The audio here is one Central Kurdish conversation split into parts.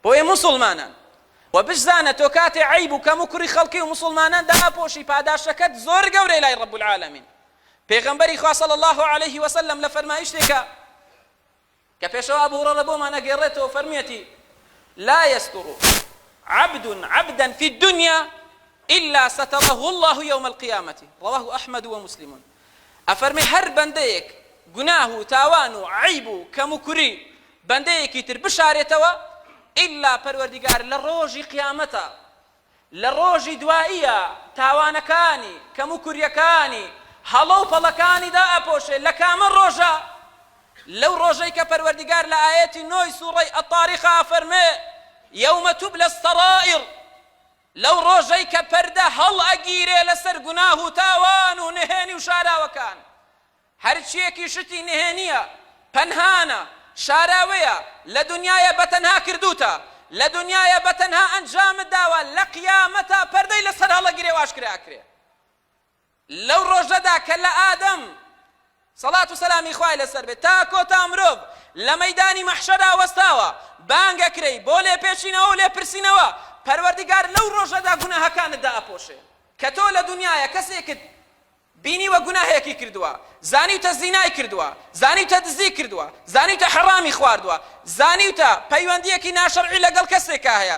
بۆیە موسڵمانان و بشزانە تۆ کاتێ عیب و کەم و کوڕی خەڵکی و موسڵمانان دائەپۆشی پاداشەکەت زۆر گەورەی لای ڕب العالمین پێغەمبەری خوا صلی الله علیه و سلم لە فەرمایشتێکە کە پێشەوە ئەبو هرەرە بۆمان ئەگێڕێتەوە فەرمیەتی لا يستر عبد عبدا في الدنيا إلا ستره الله يوم القيامة رواه أحمد ومسلمون ئەفەرمێ هەر بەندەیەک گوناه و تاوان و عەیب و کەم و کوری بەندەیەکی تر بشارێتەوە ئیلا پەروەردیگار لە ڕۆژی قیامەتا لە ڕۆژی دواییا تاوانەکانی کەم و کوریەکانی هەڵە و پەڵەکانی دا ئەپۆشێ لە کامە ڕۆژە لەو ڕۆژەی کە پەروەردیگار لە ئایەتی نۆی سوڕەی ئەتاریقا ئەفەرمێ یەومە توبلە سەڕائڕ لەو ڕۆژەی کە پەردە هەڵئەگیرێ لەسەر گوناه و تاوان و نهێنی و شاراوەکان، هەرچییەکی شتی نهێنییە، پەنهانە، شاراوەیە، لە دونیایە بەتەنها کردووتە، لە دونیایە بەتەنها ئەنجامت داوە، لە قیامەتا پەردەی لەسەر هەڵئەگیرێ و ئاشکرا ئەکرێ. لەو ڕۆژەدا کە لە ئادەم سەڵات و سەلامی خوای لەسەر بێت تا کۆتا مرۆڤ لە مەیدانی مەحشەرا وەستاوە بانگەکرێی بۆ لێپێچینەوە و لێپرسینەوە پەروەردگار لەو ڕۆژەدا گوناهەکانت دائەپۆشێ کە تۆ لە دنیایە کەسێکت بینیوە گوناهێکی کردووە زانیوتە زینای کردووە زانیوتە دزی کردووە زانیوتە حەڕامی خواردووە زانیوتە پەیوەندیەکی ناشەرعی لەگەڵ کەسێکا هەیە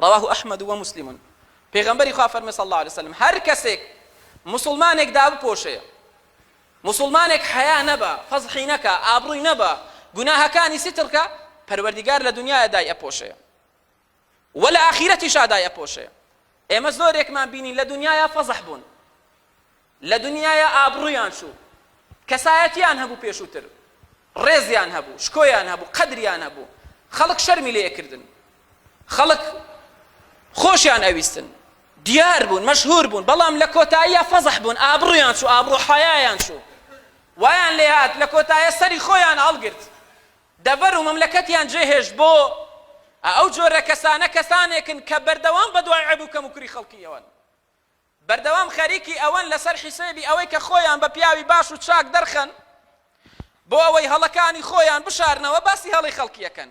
رواه احمد و مسلم، پێغەمبەری خوا فەرمووی، صلی اللە علیە و سلم، هەر کەسێک موسڵمانێک دابپۆشێ، موسڵمانێک حەیا نەبا، فەزحی نەکا، ئابڕووی نەبا، گوناهەکانی ستر کا، پەروەردیگار لە دنیایا دای ئەپۆشێ و لە ئاخیرەتیشا دای ئەپۆشێ، ئێمە زۆرێکمان بینی لە دنیایا فەزح بوون، لە دنیایا ئابڕوویان چوو کەسایەتیان هەبوو پێشووتر ڕێزیان هەبوو شکۆیان هەبوو قەدریان هەبوو خەڵک شەرمی لێ ئەکردن خەڵک خۆشیان ئەویستن دیار بوون مەشهور بوون بەڵام لە کۆتاییە فەزح بوون ئابڕویان چوو ئابڕو حەیایان چوو وایان لێ هات لە کۆتایە سەری خۆیان هەڵگرت دەڤەر و مەملەکەتیان جێهێشت بۆ ئەو جۆرە کەسانە کەسانێکن کە بەردەوام بە دوای عەب و کەم و کوری خەڵکیەوەن بەردەوام خەریکی ئەوەن لەسەر حیسێبی ئەوەی کە خۆیان بە پیاوی باش و چاک دەرخەن بۆ ئەوەی هەڵەکانی خۆیان بشارنەوە باسی هەڵەی خەڵکی ئەکەن